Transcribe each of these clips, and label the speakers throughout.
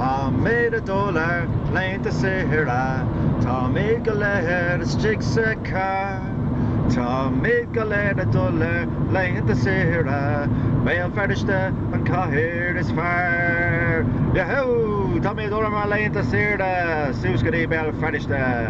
Speaker 1: Táimíd a dul ar laethanta saoire, táimíd go léir istigh sa charr. Táimíd go léir a dul ar laethanta saoire, Béal Feirste an chathair is fearr. Yahoo! Táimíd a dul ar ár laethanta saoire, suas go dtí Béal Feirste.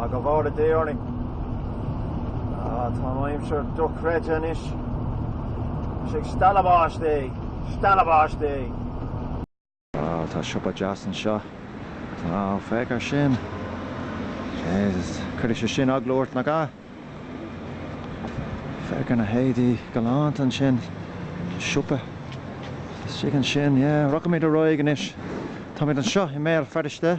Speaker 1: Ah, go bhfóire Dia orainn. Ah, tá an aimsir dochreidte anois. Is ag stealladh báistí, stealladh báistí. Ah, tá siopa deas anseo. Ah, féach ar sin. Jesus, chuirfeadh sé sin eagla ort nach ea? Féach ar na héadaí galánta ansin. Siopa istigh ansin, yeah. Rachaimid ar aghaidh anois. Táimid anseo i mBéal Feirste.